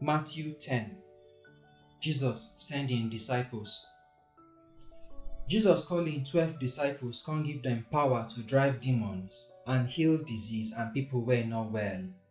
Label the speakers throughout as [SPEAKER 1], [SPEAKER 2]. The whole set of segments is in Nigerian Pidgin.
[SPEAKER 1] Matthew 10 Jesus send im disciples. Jesus call im twelve disciples come give dem power to drive demons and heal disease and people wey no well.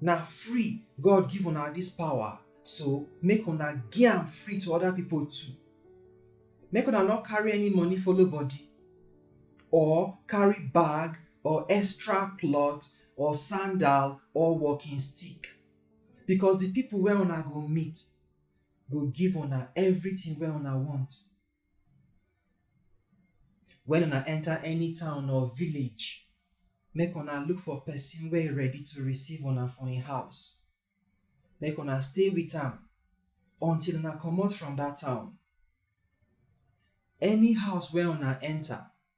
[SPEAKER 1] Na free God give una dis pawa, so make una gi am free to oda pipo too. Make una nor karry any moni follow bodi, or karry bag, or extra klot, or sandal, or walkin stick. Bikos di pipo wey una go meet go give una evritin wey una wont. When una enter any town or village, make una look for person wey ready to receive una for im house. Make una stay with am until una comot from dat town. Any house wey una enter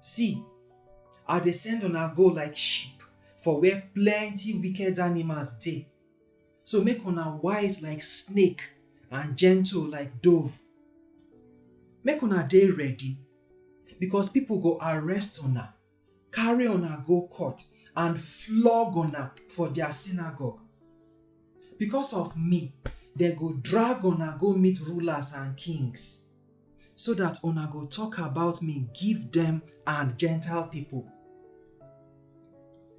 [SPEAKER 1] See, I dey send una go like sheep for where plenty wicked animals dey. So make una wise like snake and gentle like dove. Make una dey ready, because people go arrest una carry una go court and flog una for their synagogue. Because of me, they go drag una go meet rulers and kings, so that una go talk about me, give them and Gentile people.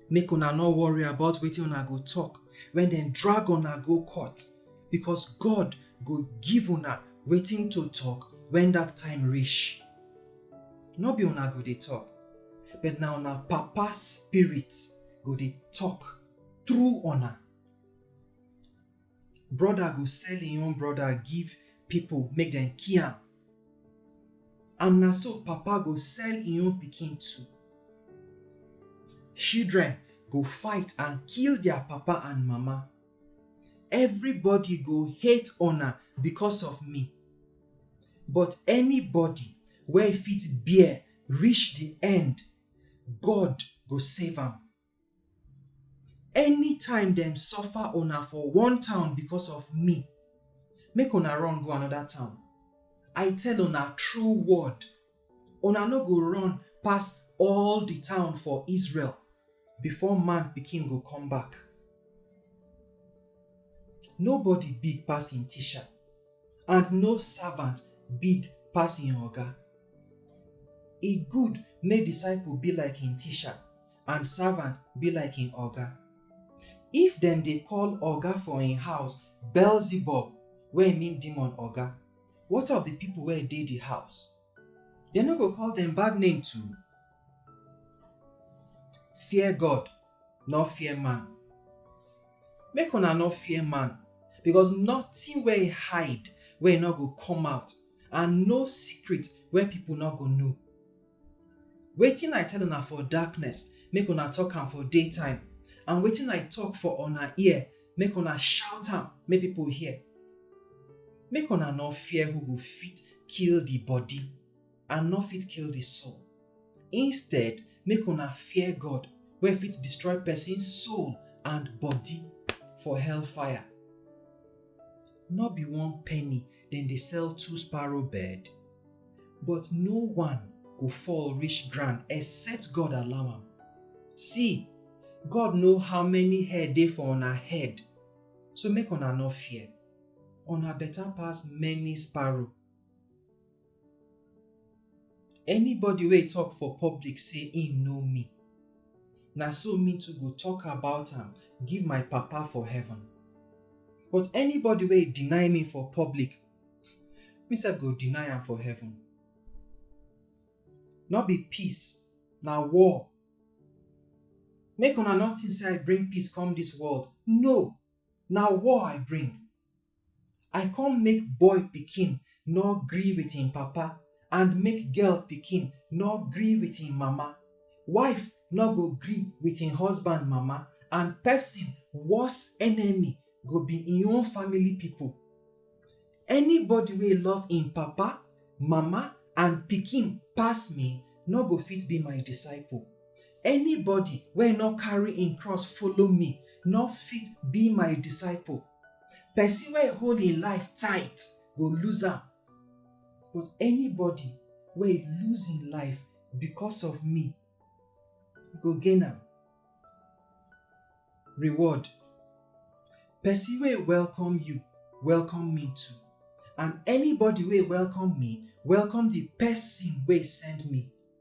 [SPEAKER 1] Make una no worry about wetin una go talk when dem drag una go court, because God go give una wetin to talk when that time reach. no be una go dey talk but na una papa spirit go dey talk through una brother go sell im own brother give people make dem kill am and na so papa go sell im own pikin too children go fight and kill their papa and mama Everybody go hate una because of me, but anybody wey fit bear reach the end, God go save am. Anytime dem suffer una for one town because of me, make una run go another town. I tell una true word Una no go run pass all di town for Israel before Man Pikin go come back. Nobody big pass im teacher, and no servant big pass im oga. E good make disciple be like im teacher and servant be like im oga. If dem dey call oga for im house Beelzebub, wey mean demon oga, What of the people where dey the house? They no go call them bad name too? Fear God, nor fear man. Make una no fear man, because nothing where he hide where he no go come out, and no secret where people no go know. Wetin I tell una for darkness, make una talk am for daytime, and wetin I talk for una ear, make una shout am make people hear. Make una no fear who go fit kill the body and no fit kill the soul. Instead, make una fear God wey fit destroy person soul and body for hellfire. No be one penny dem dey sell two sparrow bird but no one go fall reach ground except god allow am see god know how many hair dey for una head so make una no fear una better pass many sparrow Anybody wey talk for public say im know me, na so me too go talk about am give my Papa for heaven. But anybody wey deny me for public, me sef go deny am for heaven. No be peace, na war. Make una no think say I bring peace come dis world. No! Na war I bring. I come make boy pikin no gree with him papa and make girl pikin no gree with him mama. Wife no go gree with him husband mama and person worse enemy go be him own family people. Anybody wey love him papa, mama and pikin pass me no go fit be my disciple. Anybody wey no carry him cross follow me no fit be my disciple. Person wey hold im life tight go lose am, but anybody wey lose im life because of me go gain am. Reward, Person wey welcome you, welcome me too, and anybody wey welcome me, welcome the person wey send me.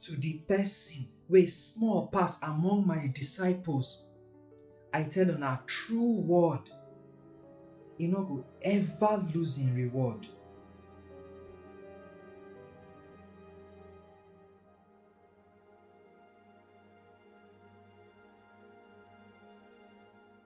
[SPEAKER 1] To di pesin wey small pass among my disciples, I tell una true word, e no go ever lose im reward.